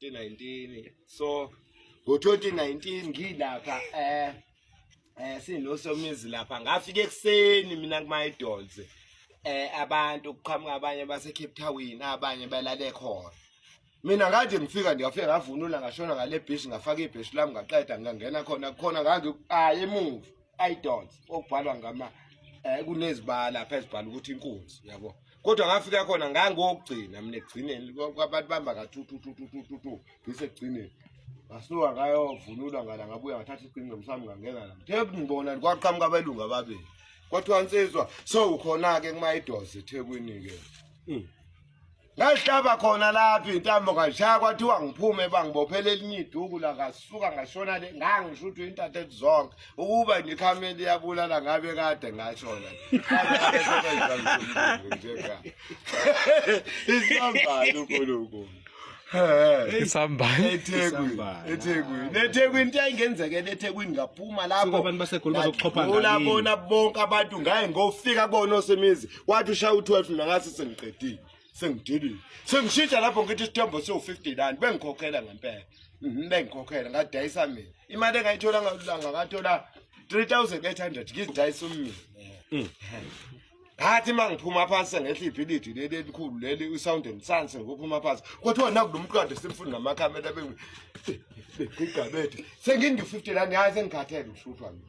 2019 so ngo-2019 ngilapha eh eh sinosomizi lapha ngafika ekuseni mina kumayidols eh abantu kuqhamuka abanye base Cape Town abanye balale khona mina ngathi ngifika ndiyafika ngavunula ngashona ngale bhishi ngafaka ibhishi lami ngaqeda ngangena khona khona ngangi ayi emuva idols okubhalwa ngama eh kunezibala phezulu ukuthi inkunzi yabo kodwa ngafika khona ngangokugcina mina ekugcineni kwabantu bamba kathuthuthuthuthuthu ngisekugcineni ngasuka ngayovunulwa ngala ngabuya ngathatha iqinqo msami ngangena la thebu ngibona kwaqhamuka abelungu ababili kwathiwa nsizwa so ukhona-ke kumayidozi ethekwini-ke hmm. ngahlaba khona lapho intambo ngashaya kwathiwa ngiphume bangibophela elinye iduku la ngasuka ngashona le ngangisho ukuthi intathe zonke ukuba ngikhameli yabulala ngabe kade ngashona isambali unkulunkulu isambali ethekwini ethekwini into yayingenzekela ethekwini ngaphuma lapholabona bonke abantu ngaye ngofika kubona osemizi wathi ushaya u-12 mina ngase sengiqedile sengidilile sengishintsha lapho ngithi isithembo siwu-59 bengikhokhela ngempela mhm, bengikhokhela ngadayisa mina imali engayithola ngalulanga ngathola 3800 ngizidayisa umina mm. ngathi uma ngiphuma phansi sengehla ibhilidi leli elikhulu leli usound and sans ngophuma phansi kuthiwa nakulo mqondo simfuni namakhamera bengigigabethe sengingi-50 lani hayi sengikhathele ushutshwa mina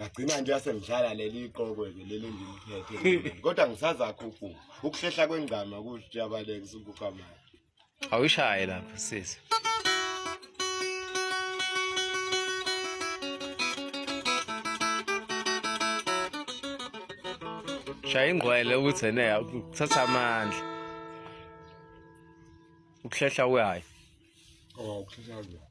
ngagcina nje yasengihlala leli iqokwe ke leli ngiliphethe kodwa ngisazakho ukufa ukuhlehla kwengcama ukuthi yabaleka usukufa manje awushaye lapho sisi shaya ingqwele ukuthi ene kuthatha amandla ukuhlehla kwayo oh ukuhlehla kwayo